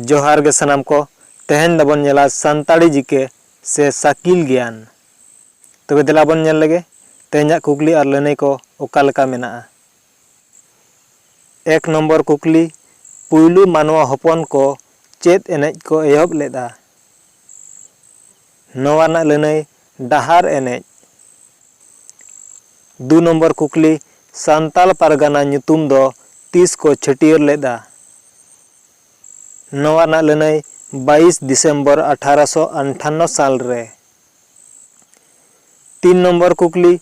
ᱡᱚᱦᱟᱨ ᱜᱮ ᱥᱟᱱᱟᱢ ᱠᱚ ᱛᱮᱦᱮᱧ ᱫᱚᱵᱚᱱ ᱧᱮᱞᱟ ᱥᱟᱱᱛᱟᱲᱤ ᱡᱤᱠᱮ ᱥᱮ ᱥᱟᱠᱤᱞ ᱜᱮᱭᱟᱱ ᱛᱚᱵᱮ ᱫᱮᱞᱟ ᱵᱚᱱ ᱧᱮᱞ ᱞᱮᱜᱮ ᱛᱮᱦᱮᱧᱟᱜ ᱠᱩᱠᱞᱤ ᱟᱨ ᱞᱟᱹᱱᱟᱹᱭ ᱠᱚ ᱚᱠᱟ ᱞᱮᱠᱟ ᱢᱮᱱᱟᱜᱼᱟ ᱮᱠ ᱱᱚᱢᱵᱚᱨ ᱠᱩᱠᱞᱤ ᱯᱩᱭᱞᱩ ᱢᱟᱱᱣᱟ ᱦᱚᱯᱚᱱ ᱠᱚ ᱪᱮᱫ ᱮᱱᱮᱡ ᱠᱚ ᱮᱦᱚᱵ ᱞᱮᱫᱟ ᱱᱚᱣᱟ ᱨᱮᱱᱟᱜ ᱞᱟᱹᱱᱟᱹᱭ ᱰᱟᱦᱟᱨ ᱮᱱᱮᱡ᱾ ᱫᱩ ᱱᱚᱢᱵᱚᱨ ᱠᱩᱠᱞᱤ ᱥᱟᱱᱛᱟᱞ ᱯᱟᱨᱜᱟᱱᱟ ᱧᱩᱛᱩᱢ ᱫᱚ ᱛᱤᱥ ᱠᱚ ᱪᱷᱟᱹᱴᱭᱟᱹᱨ ᱞᱮᱫᱼᱟ? ᱱᱚᱣᱟ ᱨᱮᱱᱟᱜ ᱞᱟᱹᱱᱟᱹᱭ ᱵᱟᱭᱤᱥ ᱫᱤᱥᱮᱢᱵᱚᱨ ᱟᱴᱷᱟᱨᱚ ᱥᱚ ᱟᱱᱴᱷᱟᱱᱱᱚ ᱥᱟᱞ ᱨᱮ᱾ ᱛᱤᱱ ᱱᱚᱢᱵᱚᱨ ᱠᱩᱠᱞᱤ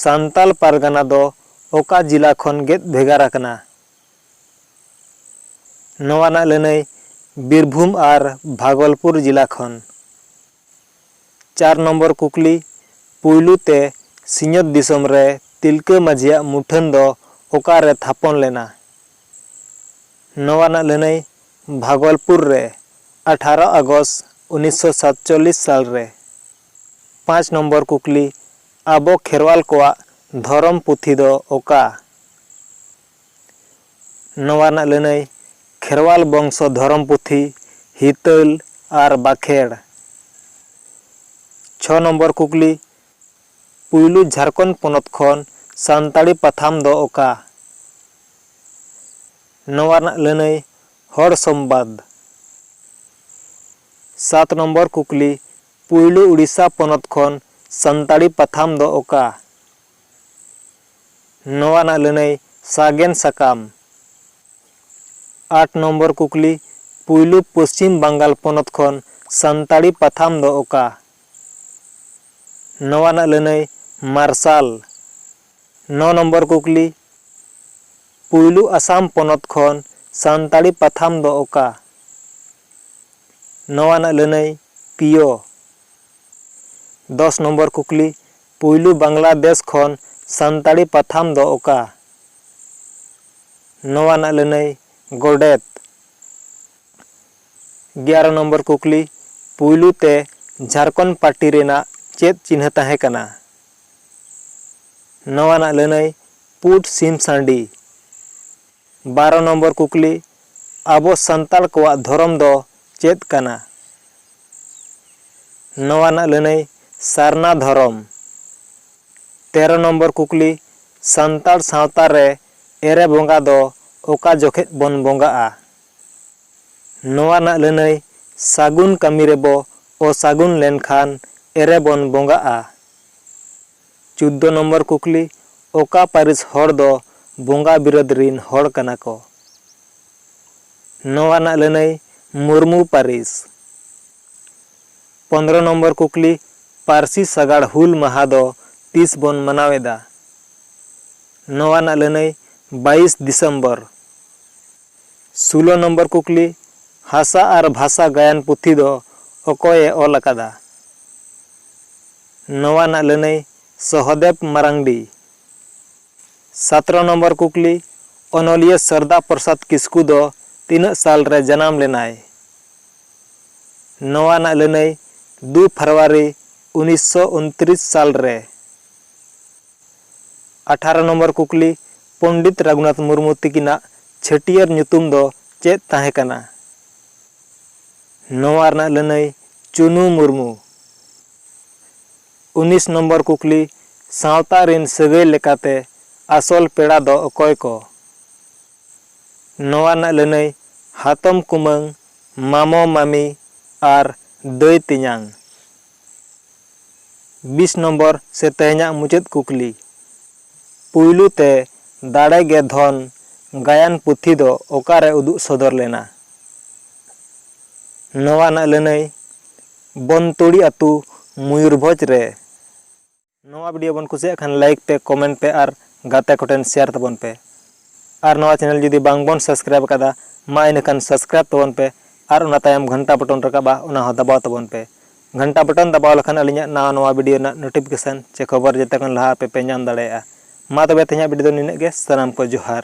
ᱥᱟᱱᱛᱟᱞ ᱯᱟᱨᱜᱟᱱᱟ ᱫᱚ ᱚᱠᱟ ᱡᱤᱞᱟ ᱠᱷᱚᱱ ᱜᱮᱫ ᱵᱷᱮᱜᱟᱨ ᱟᱠᱟᱱᱟ? ᱱᱚᱣᱟ ᱨᱮᱱᱟᱜ ᱞᱟᱹᱱᱟᱹᱭ ᱵᱤᱨᱵᱷᱩᱢ ᱟᱨ ᱵᱷᱟᱜᱚᱞᱯᱩᱨ ᱡᱤᱞᱟ ᱠᱷᱚᱱ᱾ ᱪᱟᱨ ᱱᱚᱢᱵᱚᱨ ᱠᱩᱠᱞᱤ, ᱯᱩᱭᱞᱩ ᱛᱮ ᱥᱤᱧᱚᱛ ᱫᱤᱥᱚᱢ ᱨᱮ ᱛᱤᱞᱠᱟᱹ ᱢᱟᱹᱡᱷᱤᱭᱟᱜ ᱢᱩᱴᱷᱟᱹᱱ ᱫᱚ ᱚᱠᱟ ᱨᱮ ᱛᱷᱟᱯᱚᱱ ᱞᱮᱱᱟ? ᱱᱚᱣᱟ ᱨᱮᱱᱟᱜ ᱞᱟᱹᱱᱟᱹᱭ ᱵᱷᱟᱜᱚᱞᱯᱩᱨ ᱨᱮ ᱟᱴᱷᱟᱨᱚ ᱟᱜᱚᱥ ᱩᱱᱤᱥᱥᱚ ᱥᱟᱛᱪᱚᱞᱞᱤᱥ ᱥᱟᱞ ᱨᱮ᱾ ᱯᱟᱸᱪ ᱱᱚᱢᱵᱚᱨ ᱠᱩᱠᱞᱤ, ᱟᱵᱚ ᱠᱷᱮᱨᱣᱟᱞ ᱠᱚᱣᱟᱜ ᱫᱷᱚᱨᱚᱢ ᱯᱩᱛᱷᱤ ᱫᱚ ᱚᱠᱟ? ᱱᱚᱣᱟ ᱨᱮᱱᱟᱜ ᱞᱟᱹᱱᱟᱹᱭ ᱠᱷᱮᱨᱣᱟᱞ ᱵᱚᱝᱥᱚ ᱫᱷᱚᱨᱚᱢ ᱯᱩᱛᱷᱤ ᱦᱤᱛᱟᱹᱞ ᱟᱨ ᱵᱟᱠᱷᱮᱬ᱾ ᱪᱷᱚ ᱱᱚᱢᱵᱚᱨ ᱠᱩᱠᱞᱤ, ᱯᱩᱭᱞᱩ ᱡᱷᱟᱨᱠᱷᱚᱸᱰ ᱯᱚᱱᱚᱛ ᱠᱷᱚᱱ ᱥᱟᱱᱛᱟᱲᱤ ᱯᱟᱛᱷᱟᱢ ᱫᱚ ᱚᱠᱟ? ᱱᱚᱣᱟ ᱨᱮᱱᱟᱜ ᱞᱟᱹᱱᱟᱹᱭ ᱦᱚᱲ ᱥᱚᱢᱵᱟᱫᱽ᱾ ᱥᱟᱛ ᱱᱚᱢᱵᱚᱨ ᱠᱩᱠᱞᱤ, ᱯᱩᱭᱞᱩ ᱩᱰᱤᱥᱟ ᱯᱚᱱᱚᱛ ᱠᱷᱚᱱ ᱥᱟᱱᱛᱟᱲᱤ ᱯᱟᱛᱷᱟᱢ ᱫᱚ ᱚᱠᱟ? ᱱᱚᱣᱟ ᱨᱮᱱᱟᱜ ᱞᱟᱹᱱᱟᱹᱭ ᱥᱟᱜᱮᱱ ᱥᱟᱠᱟᱢ᱾ ᱟᱴ ᱱᱚᱢᱵᱚᱨ ᱠᱩᱠᱞᱤ, ᱯᱩᱭᱞᱩ ᱯᱚᱪᱷᱤᱢ ᱵᱟᱝᱜᱟᱞ ᱯᱚᱱᱚᱛ ᱠᱷᱚᱱ ᱥᱟᱱᱛᱟᱲᱤ ᱯᱟᱛᱷᱟᱢ ᱫᱚ ᱚᱠᱟ? ᱱᱚᱣᱟ ᱨᱮᱱᱟᱜ ᱞᱟᱹᱱᱟᱹᱭ ᱢᱟᱨᱥᱟᱞ᱾ ᱱᱚ ᱱᱚᱢᱵᱚᱨ ᱠᱩᱠᱞᱤ, ᱯᱩᱭᱞᱩ ᱟᱥᱟᱢ ᱯᱚᱱᱚᱛ ᱠᱷᱚᱱ ᱥᱟᱱᱛᱟᱲᱤ ᱯᱟᱛᱷᱟᱢ ᱫᱚ ᱚᱠᱟ? ᱱᱚᱣᱟ ᱨᱮᱱᱟᱜ ᱞᱟᱹᱱᱟᱹᱭ ᱯᱤᱭᱚ᱾ ᱫᱚᱥ ᱱᱚᱢᱵᱚᱨ ᱠᱩᱠᱞᱤ, ᱯᱩᱭᱞᱩ ᱵᱟᱝᱞᱟᱫᱮᱥ ᱠᱷᱚᱱ ᱥᱟᱱᱛᱟᱲᱤ ᱯᱟᱛᱷᱟᱢ ᱫᱚ ᱚᱠᱟ? ᱱᱚᱣᱟ ᱨᱮᱱᱟᱜ ᱞᱟᱹᱱᱟᱹᱭ, ᱜᱚᱰᱮᱛ᱾ ᱜᱮᱭᱟᱨᱚ ᱱᱚᱢᱵᱚᱨ ᱠᱩᱠᱞᱤ, ᱯᱩᱭᱞᱩ ᱛᱮ ᱡᱷᱟᱨᱠᱷᱚᱸᱰ ᱯᱟᱨᱴᱤ ᱨᱮᱱᱟᱜ ᱪᱮᱫ ᱪᱤᱱᱦᱟᱹ ᱛᱟᱦᱮᱸ ᱠᱟᱱᱟ? ᱱᱚᱣᱟ ᱨᱮᱱᱟᱜ ᱞᱟᱹᱱᱟᱹᱭ, ᱯᱩᱸᱰ ᱥᱤᱢ ᱥᱟᱺᱰᱤ᱾ ᱵᱟᱨᱚ ᱱᱚᱢᱵᱚᱨ ᱠᱩᱠᱞᱤ, ᱟᱵᱚ ᱥᱟᱱᱛᱟᱲ ᱠᱚᱣᱟᱜ ᱫᱷᱚᱨᱚᱢ ᱫᱚ ᱪᱮᱫ ᱠᱟᱱᱟ? ᱱᱚᱣᱟ ᱨᱮᱱᱟᱜ ᱞᱟᱹᱱᱟᱹᱭ ᱥᱟᱨᱱᱟ ᱫᱷᱚᱨᱚᱢ᱾ ᱛᱮᱨᱚ ᱱᱚᱢᱵᱚᱨ ᱠᱩᱠᱞᱤ ᱥᱟᱱᱛᱟᱲ ᱥᱟᱶᱛᱟ ᱨᱮ ᱮᱨᱮ ᱵᱚᱸᱜᱟ ᱫᱚ ᱚᱠᱟ ᱡᱚᱠᱷᱮᱡ ᱵᱚᱱ ᱵᱚᱸᱜᱟᱜᱼᱟ? ᱱᱚᱣᱟ ᱨᱮᱱᱟᱜ ᱞᱟᱹᱱᱟᱹᱭ ᱥᱟᱹᱜᱩᱱ ᱠᱟᱹᱢᱤ ᱨᱮᱵᱚ ᱚᱥᱟᱹᱜᱩᱱ ᱞᱮᱱᱠᱷᱟᱱ ᱮᱨᱮ ᱵᱚᱱ ᱵᱚᱸᱜᱟᱜᱼᱟ᱾ ᱪᱩᱫᱫᱚ ᱱᱚᱢᱵᱚᱨ ᱠᱩᱠᱞᱤ, ᱚᱠᱟ ᱯᱟᱹᱨᱤᱥ ᱦᱚᱲ ᱫᱚ ᱵᱚᱸᱜᱟ ᱵᱤᱨᱟᱹᱫᱽ ᱨᱤᱱ ᱦᱚᱲ ᱠᱟᱱᱟ ᱠᱚ? ᱱᱚᱶᱟ ᱨᱮᱱᱟᱜ ᱞᱟᱹᱱᱟᱹᱭ, ᱢᱩᱨᱢᱩ ᱯᱟᱹᱨᱤᱥ᱾ ᱯᱚᱸᱫᱽᱨᱚ ᱱᱚᱢᱵᱚᱨ ᱠᱩᱠᱞᱤ, ᱯᱟᱹᱨᱥᱤ ᱥᱟᱜᱟᱲ ᱦᱩᱞ ᱢᱟᱦᱟᱸ ᱫᱚ ᱛᱤᱥ ᱵᱚᱱ ᱢᱟᱱᱟᱣ ᱮᱫᱟ? ᱱᱚᱶᱟ ᱨᱮᱱᱟᱜ ᱞᱟᱹᱱᱟᱹᱭ, ᱵᱟᱭᱤᱥ ᱫᱤᱥᱚᱢᱵᱚᱨ᱾ ᱥᱩᱞᱚ ᱱᱚᱢᱵᱚᱨ ᱠᱩᱠᱞᱤ, ᱦᱟᱥᱟ ᱟᱨ ᱵᱷᱟᱥᱟ ᱜᱟᱭᱟᱱ ᱯᱩᱛᱷᱤ ᱫᱚ ᱚᱠᱚᱭ ᱮ ᱚᱞ ᱟᱠᱟᱫᱟ? ᱱᱚᱣᱟ ᱨᱮᱱᱟᱜ ᱞᱟᱹᱱᱟᱹᱭ, ᱥᱚᱦᱚᱫᱮᱵᱽ ᱢᱟᱨᱟᱝᱰᱤ᱾ ᱥᱟᱛᱨᱚ ᱱᱚᱢᱵᱚᱨ ᱠᱩᱠᱞᱤ, ᱚᱱᱚᱞᱤᱭᱟᱹ ᱥᱟᱨᱫᱟ ᱯᱨᱚᱥᱟᱫᱽ ᱠᱤᱥᱠᱩ ᱫᱚ ᱛᱤᱱᱟᱹᱜ ᱥᱟᱞ ᱨᱮ ᱡᱟᱱᱟᱢ ᱞᱮᱱᱟᱭ? ᱱᱚᱣᱟ ᱨᱮᱱᱟᱜ ᱞᱟᱹᱱᱟᱹᱭ, ᱫᱩ ᱯᱷᱟᱨᱣᱟᱨᱤ ᱩᱱᱤᱥᱥᱚ ᱩᱱᱛᱨᱤᱥ ᱥᱟᱞ ᱨᱮ᱾ ᱟᱴᱷᱟᱨᱚ ᱱᱚᱢᱵᱚᱨ ᱠᱩᱠᱞᱤ, ᱯᱚᱱᱰᱤᱛ ᱨᱟᱜᱷᱩᱱᱟᱛᱷ ᱢᱩᱨᱢᱩ ᱛᱤᱠᱤᱱᱟᱜ ᱪᱷᱟᱹᱴᱭᱟᱹᱨ ᱧᱩᱛᱩᱢ ᱫᱚ ᱪᱮᱫ ᱛᱟᱦᱮᱸ ᱠᱟᱱᱟ? ᱱᱚᱶᱟ ᱨᱮᱱᱟᱜ ᱞᱟᱹᱱᱟᱹᱭ, ᱪᱩᱱᱩ ᱢᱩᱨᱢᱩ᱾ ᱩᱱᱤᱥ ᱱᱚᱢᱵᱚᱨ ᱠᱩᱠᱞᱤ, ᱥᱟᱶᱛᱟ ᱨᱤᱱ ᱥᱟᱹᱜᱟᱹᱭ ᱞᱮᱠᱟᱛᱮ ᱟᱥᱚᱞ ᱯᱮᱲᱟ ᱫᱚ ᱚᱠᱚᱭ ᱠᱚ? ᱱᱚᱣᱟ ᱨᱮᱱᱟᱜ ᱞᱟᱹᱱᱟᱹᱭ ᱦᱟᱛᱚᱢ ᱠᱩᱢᱟᱹᱝ, ᱢᱟᱢᱚ ᱢᱟᱢᱤ ᱟᱨ ᱫᱟᱹᱭ ᱛᱮᱧᱟᱝ᱾ ᱵᱤᱥ ᱱᱚᱢᱵᱚᱨ ᱥᱮ ᱛᱮᱦᱮᱧᱟᱜ ᱢᱩᱪᱟᱹᱫ ᱠᱩᱠᱞᱤ᱾ ᱯᱩᱭᱞᱩ ᱛᱮ ᱫᱟᱲᱮ ᱜᱮ ᱫᱷᱚᱱ ᱜᱟᱭᱟᱱ ᱯᱩᱛᱷᱤ ᱫᱚ ᱚᱠᱟ ᱨᱮ ᱩᱫᱩᱜ ᱥᱚᱫᱚᱨ ᱞᱮᱱᱟ? ᱱᱚᱣᱟ ᱨᱮᱱᱟᱜ ᱞᱟᱹᱱᱟᱹᱭ ᱵᱚᱱᱛᱩᱲᱤ ᱟᱹᱛᱩ ᱢᱚᱭᱩᱨᱵᱷᱚᱸᱡᱽ ᱨᱮ᱾ ᱱᱚᱣᱟ ᱵᱷᱤᱰᱤᱭᱳ ᱵᱚᱱ ᱠᱩᱥᱤᱭᱟᱜ ᱠᱷᱟᱱ ᱞᱟᱭᱤᱠ ᱯᱮ, ᱠᱚᱢᱮᱱᱴ ᱯᱮ ᱟᱨ ᱜᱟᱛᱮ ᱠᱚᱴᱷᱮᱱ ᱥᱮᱭᱟᱨ ᱛᱟᱵᱚᱱ ᱯᱮ᱾ ᱟᱨ ᱱᱚᱣᱟ ᱪᱮᱱᱮᱞ ᱡᱩᱫᱤ ᱵᱟᱝ ᱵᱚᱱ ᱥᱟᱵᱥᱠᱨᱟᱭᱤᱵᱽ ᱟᱠᱟᱫᱟ ᱢᱟ ᱤᱱᱟᱹ ᱠᱷᱟᱱ ᱥᱟᱵᱥᱠᱨᱟᱭᱤᱵᱽ ᱛᱟᱵᱚᱱ ᱯᱮ ᱟᱨ ᱚᱱᱟ ᱛᱟᱭᱚᱢ ᱜᱷᱟᱱᱴᱟ ᱵᱚᱴᱚᱱ ᱨᱟᱠᱟᱵᱼᱟ ᱚᱱᱟ ᱦᱚᱸ ᱫᱟᱵᱟᱣ ᱛᱟᱵᱚᱱ ᱯᱮ᱾ ᱜᱷᱟᱱᱴᱟ ᱵᱚᱴᱚᱱ ᱫᱟᱵᱟᱣ ᱞᱮᱠᱷᱟᱱ ᱟᱹᱞᱤᱧᱟᱜ ᱱᱟᱣᱟ ᱱᱟᱣᱟ ᱵᱷᱤᱰᱤᱭᱳ ᱨᱮᱱᱟᱜ ᱱᱳᱴᱤᱯᱷᱤᱠᱮᱥᱚᱱ ᱪᱮ ᱠᱷᱚᱵᱚᱨ ᱡᱮᱛᱮ ᱠᱷᱚᱱ ᱞᱟᱦᱟ ᱟᱯᱮ ᱯᱮ ᱧᱟᱢ ᱫᱟᱲᱮᱭᱟᱜᱼᱟ᱾ ᱢᱟ ᱛᱚᱵᱮ ᱛᱮᱦᱮᱧᱟᱜ ᱵᱷᱤᱰᱤᱭᱳ ᱫᱚ ᱱᱤᱱᱟᱹᱜ ᱜᱮ᱾ ᱥᱟᱱᱟᱢ ᱠᱚ ᱡᱚᱦᱟᱨ᱾